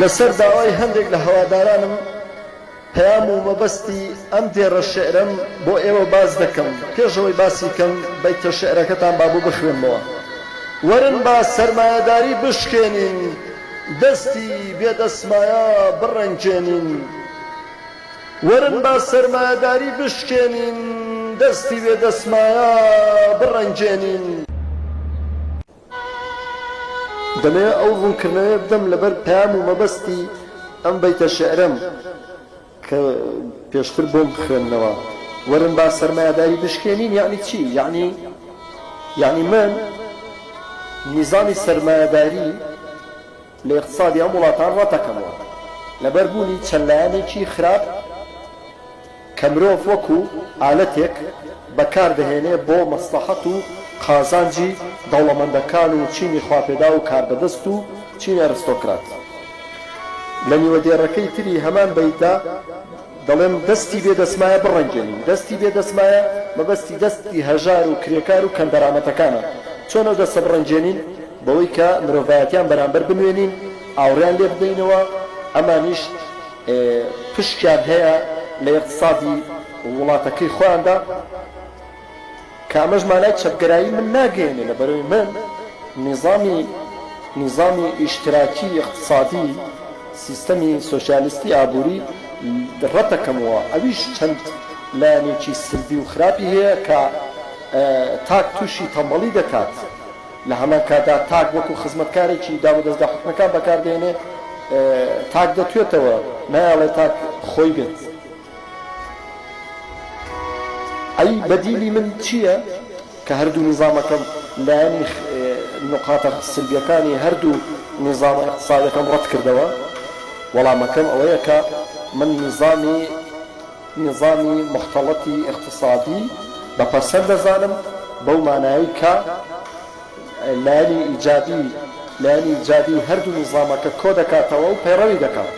لەسەر داوای هەندێک لە هەوادارانم پەیام و مەبەستی ئەم دێڕە شیعرەم بۆ ئێوە باس دەکەم، پێش ئەوەی باسی کەم بەیتە شیعرەکەتان با بۆ بخوێنمەوە. وەرن با سەرمایەداری بشکێنین، دەستی بێ دەسمایا بڕەنگێنین. وەرن با سەرمایەداری بشکێنین، دەستی بێ دەسمایا بڕەنگێنین. دەمەوێت ئەو ڕوونکردنەوەیە بدەم لەبەر پەیام و مەبەستی ئەم بەیتە شیعرەم کە پێشتر بۆم بخوێننەوە، وەرن با سەرمایەداری بشکێنین یەعنی چی؟ یەعنی یەعنی من نیزامی سەرمایەداری، لە ئیقتسادی ئەم وڵاتان ڕەتەکەمەوە لەبەر بوونی چەند لایەنێکی خراپ کە مرۆڤ وەکو ئالەتێک بەکار دەهێنێ بۆ مەسڵەحەت و قازانجی دەوڵەمەندەکان و چینی خواپێداو و کاربەدەست و چینی ئەرستۆکرات لە نیوە دێڕەکەی تری هەمان بەیتدا دەڵێم دەستی بێ دەسمایە بڕەنگێنین دەستی بێ دەسمایە مەبەستی دەستی هەژار و کرێکار و کەمدەرامەتەکانە چۆن ئەو دەستە بڕەنگێنین؟ بەوەی کە مرۆڤایەتیان بەرامبەر بنوێنین ئاوڕیان لێ بدەینەوە ئەمانیش پشکیان هەیە لە یەقتسادی ووڵاتەکەی خۆیاندا کە ئەمەش مانای چەپگەرایی من ناگەیەنێ لە بەرەوی من نیزامی نیزامی ئیشتراکی یەقتسادی سیستەمی سۆسیالیستی ئابووری ڕەتەکەمەوە ئەویش چەند لایەنێکی سلبی و خراپی هەیە کە تاک تووشی تەمبەڵی دەکات لە هەمان کاتدا تاک وەکو خزمەتکارێکی داروودەزگا حکومیەکان بەکار دێنێ، تاک دەتوێتەوە نایەڵێ تاک خۆی بێت. ئەی بەدیلی من چیە کە هەردوو نیزامەکەم لایەنی نقاطە سلبیەکانی هەردوو نیزامە ئیقتسادیەکەم ڕەتکردەوە؟ وەڵامەکەم ئەوەیە کە من نیزامی، نیزامی موختەڵەتی ئیقتسادی بە پەسەند دەزانم بەو مانایەی کە لایەنی ئیجابی لایەنی ئیجابی هەردوو نیزامەکە کۆ دەکاتەوە و پەیڕەوی دەکات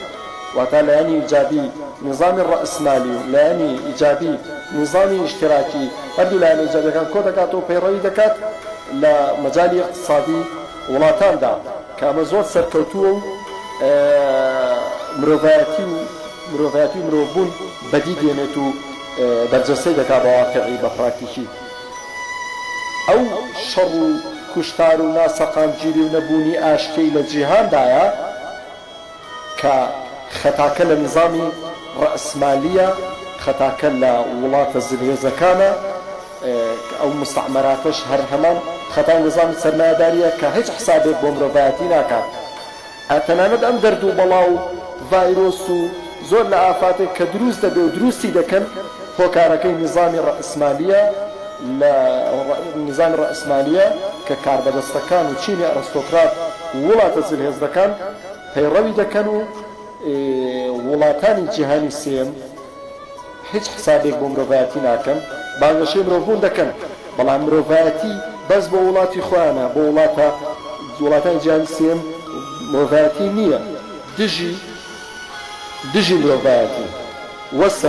واتا لایەنی ئیجابی نیزامی ڕەئسمالی و لایەنی ئیجابی نیزامی ئیشتراکی هەردوو لایەنە ئیجابیەکان کۆ دەکاتەوە و پەیڕەوی دەکات لە مەجالی ئیقتسادی وڵاتاندا کە ئەمە زۆر سەرکەوتووە و مرۆڤایەتی و مرۆڤایەتی و مرۆڤبوون بەدی دێنێت و بەرجەستەی دەکات بە واقیعی بە پراکتیکی. ئەو شەڕ و کوشتار و ناسەقامگیری و نەبوونی ئاشتیەی لە جیهاندایە کە خەتاکە لە نیزامی ڕەئسمالیە، خەتاکە لە وڵاتە زلهێزەکانە، ئەو موستەعمەراتەش هەر هەمان خەتای نیزامی سەرمایەداریە کە هیچ حسابێک بۆ مرۆڤایەتی ناکات. هەر تەنانەت ئەم دەرد و بەڵا و ڤایرۆس و زۆر لە ئافاتێک کە دروست دەبێ و دروستی دەکەن هۆکارەکەی نیزامی ڕەئسمالیە لە نیزامی ڕەئسمالیە کە کاربەدەستەکان و چینی ئەرستۆکرات و وڵاتە زلهێزەکان پەیڕەوی دەکەن و وڵاتانی جیهانی سێیەم هیچ حسابێک بۆ مرۆڤایەتی ناکەن، بانگەشەی مرۆڤبوون دەکەن، بەڵام مرۆڤایەتی بەس بۆ وڵاتی خۆیانە، بۆ وڵاتە وڵاتانی جیهانی سێیەم مرۆڤایەتی نییە، دژی دژی مرۆڤایەتین. وەسە.